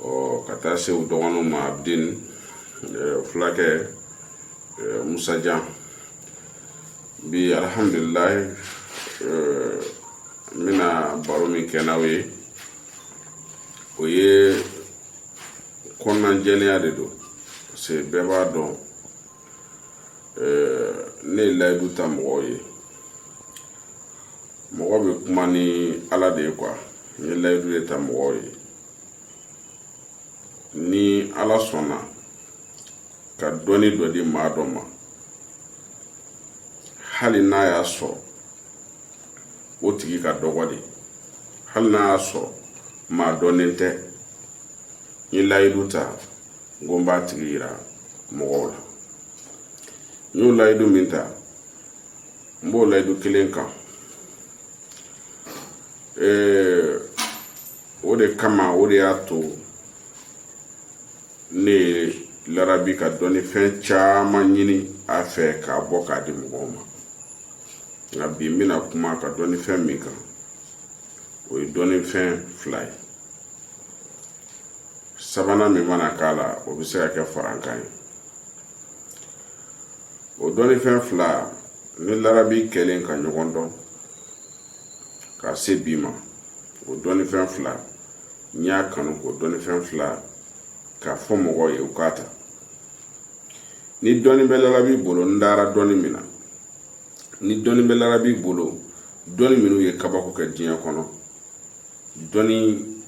ɔ ka taa se u dɔgɔninw ma abidin fulakɛ musa jabi alihamdulilayi n bɛna baro min kɛ n'aw ye o ye kɔnɔnajɛlenya de don parce que bɛɛ b'a dɔn ne ye layidu ta mɔgɔw ye mɔgɔ bɛ kuma ni ala de ye quoi n ye layidu de ta mɔgɔw ye ni ala sɔnna ka dɔnni dɔ di maa dɔ ma hali n'a y'a sɔrɔ o tigi ka dɔgɔ de hali n'a y'a sɔrɔ maa dɔnnen tɛ n ye layidu ta n ko n b'a tigi yira mɔgɔw la n y'o layidu min ta n b'o layidu kelen kan o de kama o de y'a to ne ye larabi ka dɔnnifɛn caman ɲini a fɛ k'a bɔ k'a di mɔgɔw ma nka bi n bɛna kuma ka dɔnnifɛn min kan o ye dɔnnifɛn fila ye sabanan min mana k'a la o bɛ se ka kɛ farankan ye o dɔnnifɛn fila n ni larabi kɛlen ka ɲɔgɔn dɔn ka se bi ma o dɔnnifɛn fila n y'a kanu k'o dɔnnifɛn fila k'a fɔ mɔgɔw ye u k'a ta ni dɔnni bɛ larabi bolo n dara dɔnni min na ni dɔnni bɛ larabi bolo dɔnni minnu ye kabako kɛ diɲɛ kɔnɔ dɔnni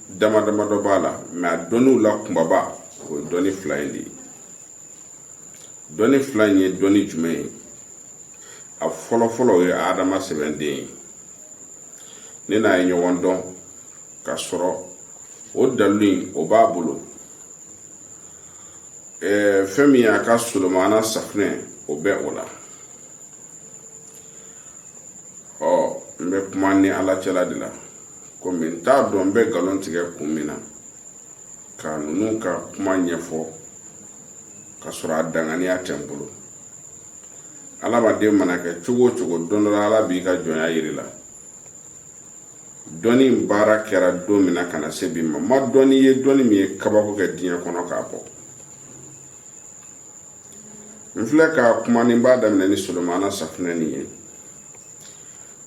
dama dama dɔ b'a la mais a dɔnniw la kunbaba o ye dɔnni fila in de ye dɔnni fila in ye dɔnni jumɛn ye a fɔlɔ fɔlɔ o ye adama sɛbɛn de ye ne n'a ye ɲɔgɔn dɔn ka sɔrɔ o dalilu in o b'a bolo ɛɛ fɛn min y'a ka solomana safunɛ o bɛ o la ɔ n bɛ kuma n ni ala cɛla de la komi n t'a dɔn n bɛ nkalon tigɛ kun min na ka ninnu ka kuma ɲɛfɔ ka sɔrɔ a danganiya tɛ n bolo adamaden mana kɛ cogo o cogo don dɔ la ala b'i ka jɔnya yir'i la dɔnni baara kɛra don min na ka na se bi ma n ma dɔnni ye dɔnni min ye kabako kɛ diɲɛ kɔnɔ k'a bɔ n filɛ ka kuma ni n b'a daminɛ ni solomana safunɛ nin ye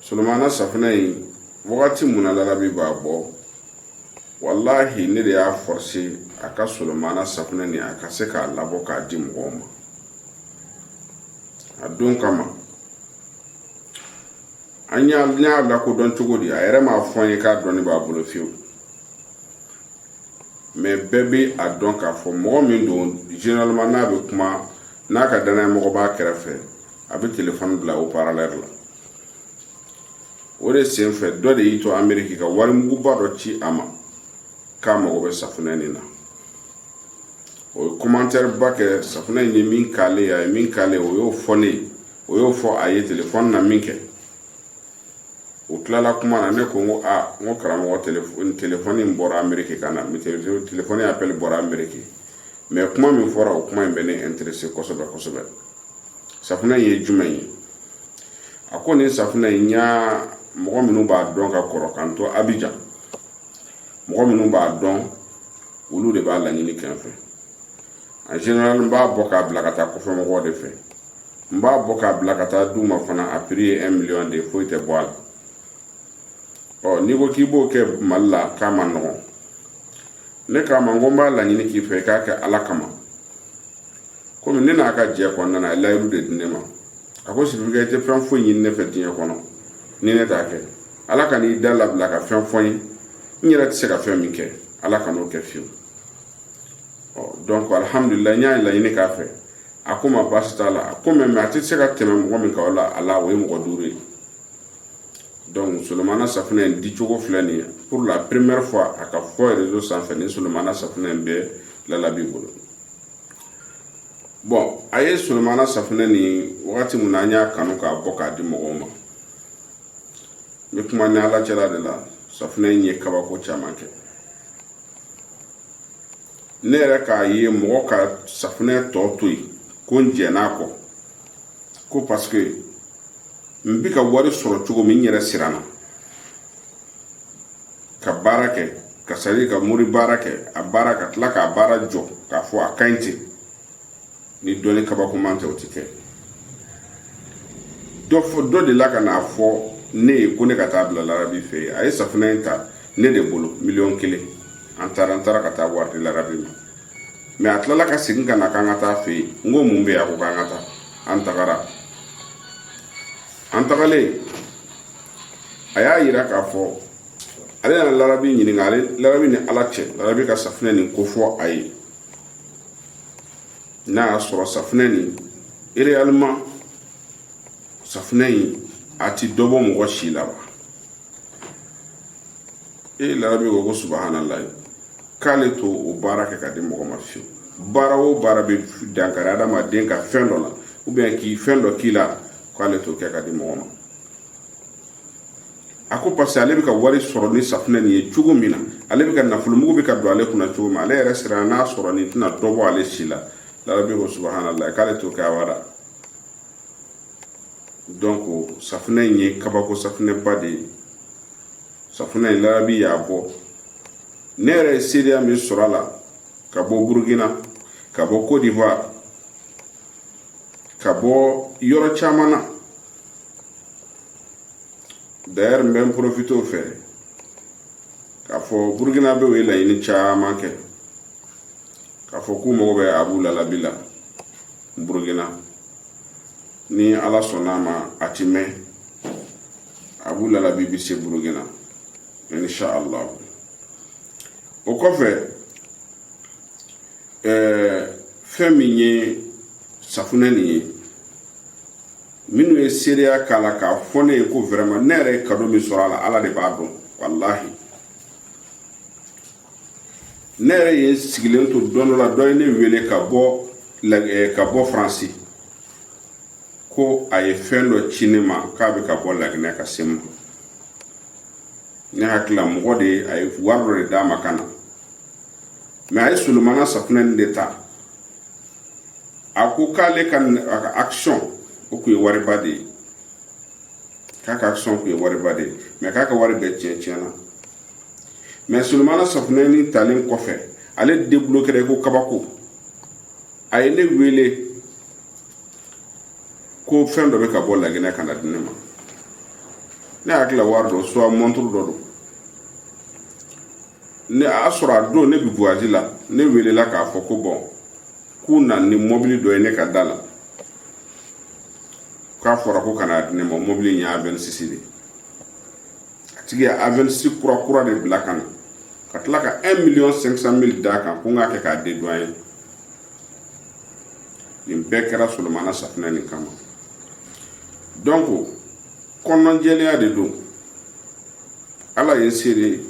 solomana safunɛ in wagati min na larabi b'a bɔ walahi ne de y'a forcé a ka solomana safunɛ nin a ka se k'a labɔ k'a di mɔgɔw ma a don kama an y'a lakodɔn cogo di a yɛrɛ m'a fɔ an ye k'a dɔnni b'a bolo fiyewu mɛ bɛɛ bɛ a dɔn k'a fɔ mɔgɔ min don généralement n'a bɛ kuma n'a ka dannayamɔgɔ b'a kɛrɛfɛ a bɛ telefɔni bila haut-parleur la o de senfɛ dɔ de y'i to ameriki ka wari muguba dɔ ci a ma k'a mago bɛ safunɛ nin na o ye kɔmantɛri ba kɛ safunɛ in ye min k'ale a ye min k'ale o y'o fɔ ne ye o y'o fɔ a ye telefɔni na minkɛ u tilala kuma na ne ko ko aa n ko karamɔgɔ telefɔni in bɔra ameriki ka na telefɔni y'apɛli bɔra ameriki mɛ kuma min fɔra o kuma in bɛ ne interese kosɛbɛ kosɛbɛ safunɛ in ye jumɛn ye a ko nin safunɛ in n y'a mɔgɔ minnu b'a dɔn ka kɔrɔ k'an to abijan mɔgɔ minnu b'a dɔn olu de b'a laɲini ka n fɛ en général n b'a bɔ k'a bila ka taa kɔfɛ mɔgɔw de fɛ n b'a bɔ k'a bila ka taa du ma fana a piri ye un million de ye foyi tɛ bɔ a la ɔ n'i ko k'i b'o kɛ mali la k'a man nɔgɔn ne k'a ma n ko n b'a laɲini k'i fɛ i k'a kɛ ala kama komi ne n'a ka jɛ kɔnɔna na a ye layiru de di ne ma a ko sibirikɛ i tɛ fɛn foyi ɲini ne fɛ diɲɛ kɔnɔ ni ne t'a kɛ ala kan'i da labila ka fɛn fɔ n ye n yɛrɛ tɛ se ka fɛn min kɛ ala kan'o kɛ fiyewu ɔ dɔnku alihamudulila n y'a laɲini k'a fɛ a ko n ma baasi t'a la a ko mɛ a tɛ se ka tɛmɛ mɔgɔ min ka la a la o ye mɔgɔ duuru ye donc solomana safunɛ in di cogo filɛ nin ye pour la première fois a ka fɔ réseau sanfɛ ni solomana safunɛ in bɛ lala b'i bolo bɔn a ye solomana safunɛ nin wagati min na an y'a kanu k'a bɔ k'a di mɔgɔw ma n bɛ kuma n ni ala cɛla de la safunɛ in ye kabako caman kɛ ne yɛrɛ k'a ye mɔgɔ ka safunɛ tɔ to yen ko n jɛn'a kɔ ko paseke n bi ka wari sɔrɔ cogo min n yɛrɛ siranna ka baara kɛ ka sari ka mori baara kɛ a baara ka tila k'a baara jɔ k'a fɔ a ka ɲi ten ni dɔnni kabakoman tɛ o tɛ kɛ dɔ fɔ dɔ de la ka n'a fɔ ne ye ko ne ka t'a bila larabi fɛ yen a ye safunɛ in ta ne de bolo miliyɔn kelen an taara an taara ka taa waati larabi mɛ a tilala ka segin ka na k'an ka taa fɛ yen n ko mun bɛ a ko k'an ka taa an tagara an tagalen a y'a yira k'a fɔ ale nana larabi ɲininka ale larabi ni ala cɛ larabi ka safinɛ nin ko fɔ a ye n'a y'a sɔrɔ safinɛ nin réellement safinɛ in a ti dɔ bɔ mɔgɔ si la wa e larabi ko ko subahana layi k'ale t'o baara kɛ ka di mɔgɔ ma fiyewu baara o baara bɛ dankari adamaden ka fɛn dɔ la ou bien k'i fɛn dɔ k'i la k'ale t'o kɛ ka di mɔgɔ ma a ko parce que ale bɛ ka wari sɔrɔ ni safunɛ nin ye cogo min na ale bɛ ka nafolo mugu bɛ ka don ale kunna cogo min ale yɛrɛ siranna a sɔrɔ nin tɛna dɔ bɔ ale si la larabi ko subahana layi k'ale t'o kɛ abada donc safunɛ in ye kabako safunɛba de ye safunɛ in larabi y'a bɔ ne yɛrɛ ye seereya min sɔrɔ a la ka bɔ burukina ka bɔ cote d'ivoire ka bɔ yɔrɔ caman na d'ailleurs n bɛ n profite o fɛ k'a fɔ burukinabɛw ye laɲini caman kɛ k'a fɔ k'u mago bɛ abu lalabi la burukina ni ala sɔnn'a ma a ti mɛn abu lalabi bi se burukina insha allah o kɔfɛ ɛɛ fɛn min ye safunɛ nin ye minnu ye seereya k'a la k'a fɔ ne ye ko vraiment ne yɛrɛ ye kado min sɔrɔ a la ala de b'a dɔn walahi ne yɛrɛ ye sigilen to don dɔ la dɔ ye ne wele ka bɔ eh, ka bɔ faransi ko a ye fɛn dɔ ci ne ma k'a bɛ ka bɔ laginɛ ka se n ma ne hakili la mɔgɔ de ye a ye wari dɔ de d'a ma ka na mɛ a ye solomana safunɛ nin de ta a ko k'ale ka a ka action o tun ye wariba de ye k'a ka action tun ye wariba de ye mɛ k'a ka wari bɛɛ tiɲɛ tiɲɛna mɛ solomana safunɛ nin talen kɔfɛ ale de bolo kɛra i ko kabako a ye ne wele ko fɛn dɔ bɛ ka bɔ laginɛ ka na di ne ma ne hakili wari dɔ soit mɔnturu dɔ don ne a y'a sɔrɔ a don ne bɛ voyage la ne welela k'a fɔ ko bɔn k'u na ni mɔbili dɔ ye ne ka da la k'a fɔra ko ka na di ne ma mɔbili in ye avɛnsisi de a tigi ye avɛnsisi kura kura de bila ka na ka tila ka 1 miliyɔn 500 mili d'a kan ko n k'a kɛ k'a dédouaner nin bɛɛ kɛra solomana safunɛ nin kama donc kɔnɔnjɛlenya de don ala ye seere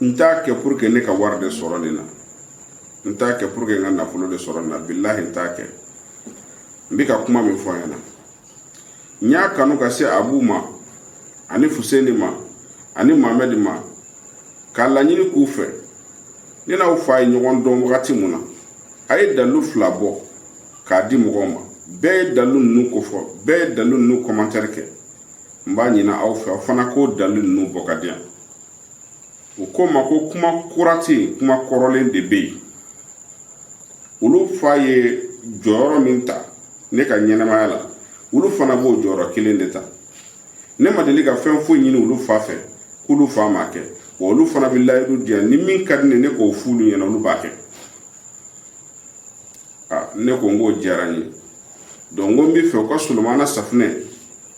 n t'a kɛ pour que ne ka wari de sɔrɔ nin na n t'a kɛ pour que n ka nafolo de sɔrɔ nin na bilahi n t'a kɛ n bɛ ka kuma min fɔ n ɲɛna n y'a kanu ka se abu ma ani fuseni ma ani mamɛdi ma k'a laɲini k'u fɛ ne n'aw fa ye ɲɔgɔn dɔn wagati min na a ye dalilu fila bɔ k'a di mɔgɔw ma bɛɛ ye dalilu ninnu kofɔ bɛɛ ye dalilu ninnu kɔmantɛri kɛ n b'a ɲini aw fɛ aw fana k'o dalilu ninnu bɔ ka di yan u ko n ma ko kuma kura tɛ yen kuma kɔrɔlen de bɛ yen olu fa ye jɔyɔrɔ min ta ne ka ɲɛnamaya la olu fana b'o jɔyɔrɔ kelen de ta ne ma deli ka fɛn foyi ɲini olu fa fɛ k'olu fa m'a kɛ wa olu fana bɛ layidu di yan ni min ka di ne ye ne k'o fɔ olu ɲɛna olu b'a kɛ a ne ko n k'o diyara n ye donc n ko n b'a fɛ u ka solomana safunɛ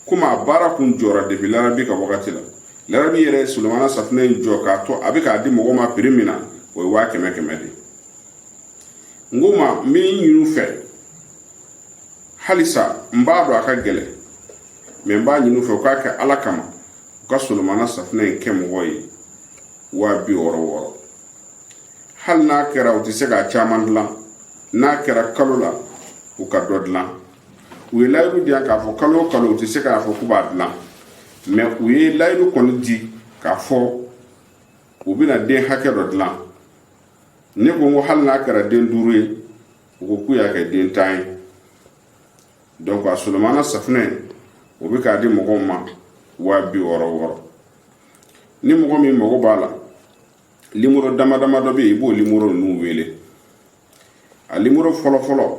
komi a baara kun jɔra depi larabi ka wagati la Larabi yɛrɛ ye Solomana safunɛ in jɔ k'a to a bɛ k'a di mɔgɔ ma prix min na o ye waa kɛmɛ kɛmɛ de n k'u ma n b'a ɲin'u fɛ halisa n b'a dɔn a ka gɛlɛn mɛ n b'a ɲin'u fɛ u k'a kɛ Ala kama u ka Solomana safunɛ in kɛ mɔgɔ ye waa bi wɔɔrɔ wɔɔrɔ hali n'a kɛra u tɛ se k'a caman dilan n'a kɛra kalo la u ka dɔ dilan u ye layidu di yan k'a fɔ kalo o kalo u tɛ se k'a fɔ k'u b'a dilan mɛ u ye layidu kɔni di k'a fɔ u bɛna den hakɛ dɔ dilan ne ko n ko hali n'a kɛra den duuru ye u ko k'u y'a kɛ den tan ye donc a solomana safunɛ o bɛ k'a di mɔgɔw ma waa bi wɔɔrɔ wɔɔrɔ ni mɔgɔ min mago b'a la limoro dama dama dɔ bɛ yen i b'o limoro ninnu wele a limoro fɔlɔ fɔlɔ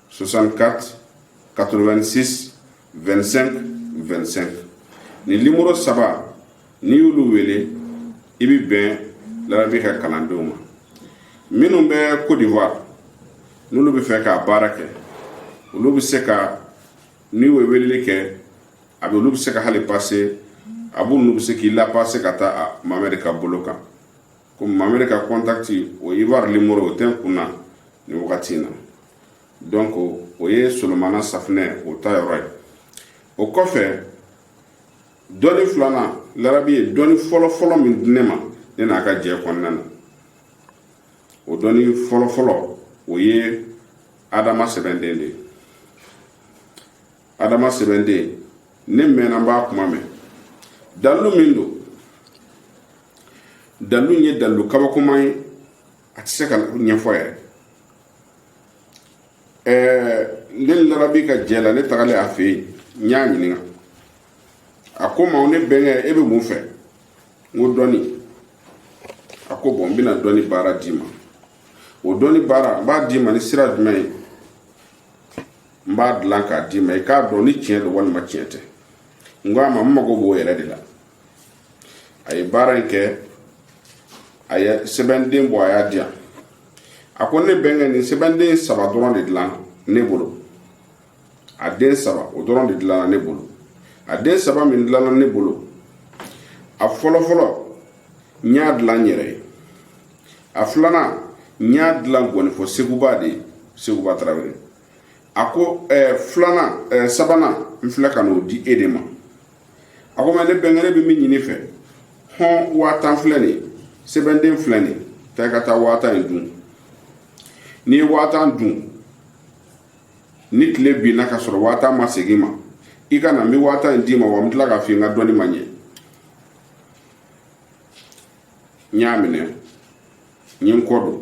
64 86 25 25 ni limoro saba n'i y'olu wele i bɛ bɛn larabi ka kalandenw ma minnu bɛ Côte d'Ivoire n'olu b'a fɛ k'a baara kɛ olu bɛ se ka n'i y'o weleli kɛ Abu olu bɛ se ka hali pase Abu ninnu bɛ se k'i lapase ka taa Mamɛdi ka bolo kan ko mamɛdi ka kɔntakti o ivoire limoro o tɛ n kun na nin wagati in na donc o ye solomana safunɛ o ta yɔrɔ ye o kɔfɛ dɔnni filanan larabi ye dɔnni fɔlɔfɔlɔ min di ne ma ne n'a ka jɛ kɔnɔna na o dɔnni fɔlɔfɔlɔ o ye adama sɛbɛnden de ye adama sɛbɛnden ne mɛnna n b'a kuma mɛn dalu min don dalu ye dalu kabakoma ye a tɛ se ka ɲɛfɔ yɛrɛ ɛɛ ne larabi ka jɛ la ne tagalen a fɛ yen n y'a ɲininka a ko n ma ne bɛnkɛ e bɛ mun fɛ n ko dɔnni a ko bɔn n bɛna dɔnni baara d'i ma o dɔnni baara n b'a d'i ma ni sira jumɛn ye n b'a dilan k'a d'i ma i k'a dɔn ni tiɲɛ don walima tiɲɛ tɛ n ko a ma n mago b'o yɛrɛ de la a ye baara in kɛ a ye sɛbɛnden bɔ a y'a di yan a ko ne bɛnkɛ nin sɛbɛnden saba dɔrɔn de dilanna ne bolo a den saba o dɔrɔn de dilanna ne bolo a den saba min dilanna ne bolo a fɔlɔfɔlɔ n y'a dilan n yɛrɛ ye a filanan n y'a dilan ngɔnifɔ seguba de ye seguba tarawele a ko ɛɛ eh, filanan ɛɛ eh, sabanan n filɛ ka n'o di e de ma a ko mɛ ne bɛnkɛrɛ bɛ min ɲini i fɛ hɔn waa tan filɛ nin ye sɛbɛnden filɛ nin ye taa i ka taa waa tan in dun n'i ye waa tan dun ni tile binna ka sɔrɔ waa tan ma segin i ma i ka na n bɛ waa tan in d'i ma wa n bɛ tila k'a f'i ye n ka dɔnni ma ɲɛ n y'a minɛ n ye n kɔ don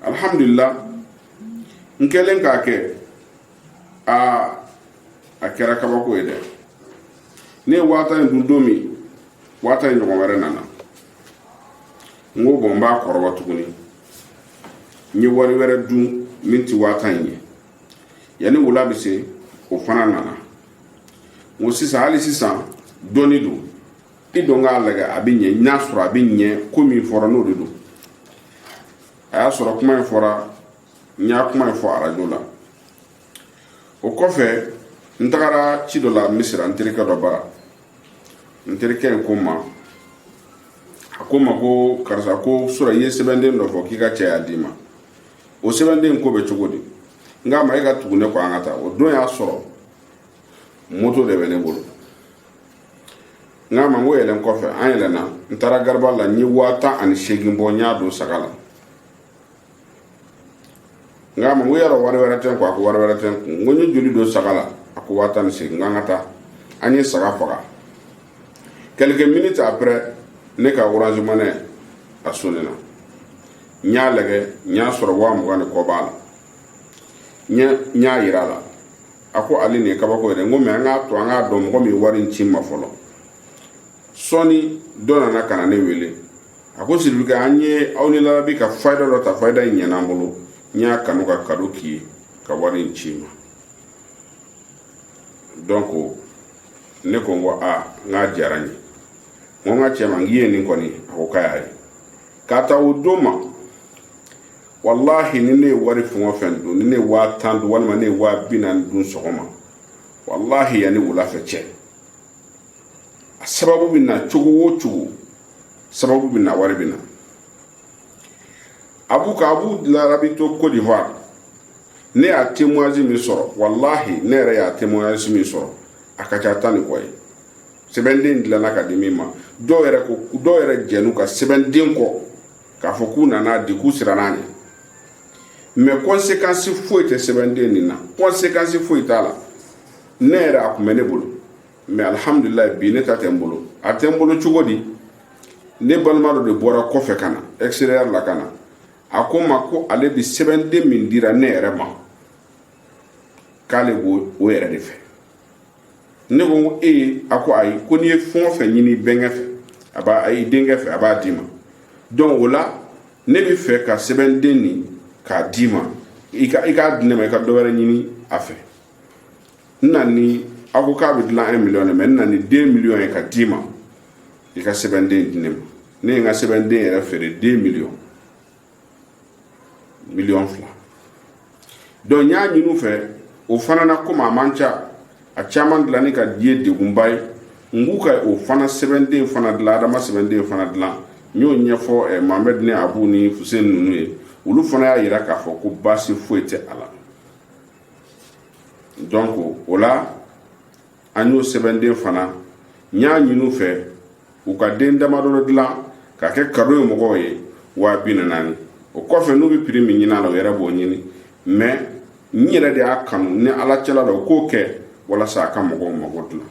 alhamdulila n kɛlen k'a kɛ aa a kɛra kabako ye dɛ ne ye waa tan dun don min waa tan ɲɔgɔn wɛrɛ nana n ko bɔn n b'a kɔrɔbɔ tuguni n ye wari wɛrɛ dun min ti waa tan in ye yanni wula bɛ se o fana nana n ko sisan hali sisan dɔɔni don i dɔn k'a lajɛ a bɛ ɲɛ n'a sɔrɔ a bɛ ɲɛ ko min fɔra n'o de don a y'a sɔrɔ kuma in fɔra n ye kuma in fɔ arajo la o kɔfɛ n tagara ci dɔ la misira n terikɛ dɔ bara n terikɛ in ko n ma a ko n ma ko karisa ko surɔ i ye sɛbɛnden dɔ fɔ k'i ka cɛ y'a d'i ma o sɛbɛnden ko bɛ cogo di n k'a ma e ka tugu ne kɔ an ka taa o don y'a sɔrɔ moto de bɛ ne bolo n k'a ma n ko yɛlɛn kɔfɛ an yɛlɛnna n taara garibali la n ye waa tan ani seegin bɔ n y'a don saga la n k'a ma n ko yɔrɔ wari wɛrɛ tɛ n kun a ko wari wɛrɛ tɛ n kun n ko n ye joli don saga la a ko waa tan ni seegin n k'an ka taa an ye saga faga quelques minutes après ne ka orange money a sonena n y'a lagɛ n y'a sɔrɔ waa mugan ni kɔ b'a la n y'a yira a la a ko ale nin ye kabako yɛrɛ ko mɛ an k'a to an k'a dɔn mɔgɔ min wari in ci i ma fɔlɔ sɔɔni dɔ nana ka na ne wele a ko siribikɛ an ye aw ni larabi ka fayida dɔ ta fayida in ɲɛna an bolo n y'a kanu ka kado k'i ye ka wari in ci i ma donc ne ko n ko a n k'a diyara n ye n ko n ka cɛ ma n k'i ye nin kɔni a ko k'a y'a ye k'a ta o don ma walahi ni ne ye wari fɛn o fɛn dun ni ne ye waa tan dun walima ne ye waa bi naani dun sɔgɔma walahi yanni wulafɛ cɛ a sababu bɛ na cogo o cogo sababu bɛ na wari bɛ na abu ka abu larabi to Côte d'Ivoire ne y'a témoignage min sɔrɔ walahi ne yɛrɛ y'a témoignage min sɔrɔ a ka ca tan ni kɔ ye sɛbɛnden dilanna ka di min ma dɔw yɛrɛ ko dɔw yɛrɛ jɛn'u ka sɛbɛnden kɔ k'a fɔ k'u nan'a di k'u siranna a ɲɛ mɛ kɔnsekansi foyi tɛ sɛbɛnden nin na kɔnsekansi foyi t'a la ne yɛrɛ a tun bɛ ne bolo mɛ alihamudulila bi ne ta tɛ n bolo a tɛ n bolo cogo di ne balima dɔ de bɔra kɔfɛ ka na extérieur la ka na a ko n ma ko ale bi sɛbɛnden min dira ne yɛrɛ ma k'ale b'o o yɛrɛ de fɛ ne ko ko e a ko ayi ko n'i ye fɛn o fɛn ɲini bɛnkɛ fɛ a b'a a y'i denkɛ fɛ a b'a d'i ma donc o la ne b'a fɛ ka sɛbɛnden nin k'a d'i ma i ka i k'a di ne ma i ka dɔ wɛrɛ ɲini a fɛ n na ni a ko k'a bɛ dilan un million de mɛ n na ni deux millions ye ka d'i ma i ka sɛbɛnden di ne ma ne ye n ka sɛbɛnden yɛrɛ feere deux millions miliyɔn fila donc n y'a ɲini u fɛ o fana na komi a man ca a caman dilanni k'a di ye degunba ye n k'u ka o fana sɛbɛnden fana dilan adama sɛbɛnden fana dilan n y'o ɲɛfɔ eh, mohamɛd ni abu ni fuseni ninnu ye olu fana y'a yira k'a fɔ ko baasi foyi tɛ a la donc o la an y'o sɛbɛnden fana n y'a ɲini u fɛ u ka den damadɔ dɔ dilan ka kɛ kado ye mɔgɔw ye waa bi naani o kɔfɛ n'u bɛ piri min ɲini a la u yɛrɛ b'o ɲini mɛ n yɛrɛ de y'a kanu ni ala cɛla la u k'o kɛ walasa a ka mɔgɔw mago dilan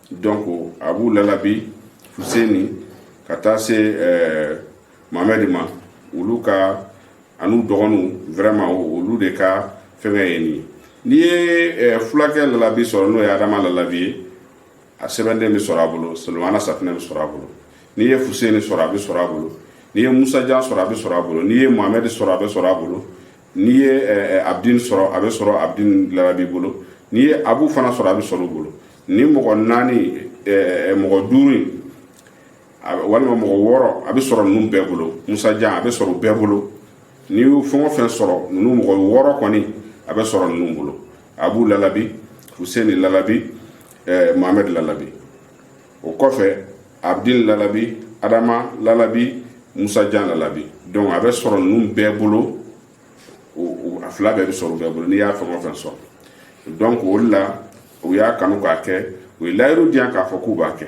donc abu lalabi fuseni ka taa se ɛɛ eh, mamɛdi ma olu ka an'u dɔgɔninw vraiment olu de ka fɛnkɛ ye nin n'i ye eh, fulakɛ lalabi sɔrɔ n'o ye adama lalabi ye a sɛbɛnden bɛ sɔrɔ a bolo solomana safinɛ bɛ sɔrɔ a bolo n'i ye fuseni sɔrɔ a bɛ sɔrɔ a bolo n'i ye musajan sɔrɔ a bɛ sɔrɔ a bolo n'i ye mohamɛdi sɔrɔ a bɛ sɔrɔ a bolo n'i ye eh, eh, abdin sɔrɔ a bɛ sɔrɔ abdin lalabi bolo n'i ye abu fana sɔrɔ a bɛ sɔrɔ u bolo nin mɔgɔ naani mɔgɔ duuru walima mɔgɔ wɔɔrɔ a bɛ sɔrɔ ninnu bɛɛ bolo musajan a bɛ sɔrɔ bɛɛ bolo n'i y'u fɛn o fɛn sɔrɔ ninnu mɔgɔ wɔɔrɔ kɔni a bɛ sɔrɔ ninnu bolo abu lalabi fuseni lalabi ɛɛ mohamɛd lalabi o kɔfɛ abdin lalabi adama lalabi musajan lalabi donc a bɛ sɔrɔ ninnu bɛɛ bolo a fila bɛɛ bɛ sɔrɔ bɛɛ bolo n'i y'a fɛn o fɛn sɔrɔ donc o de la u y'a kanu k'a kɛ u ye layidu di yan k'a fɔ k'u b'a kɛ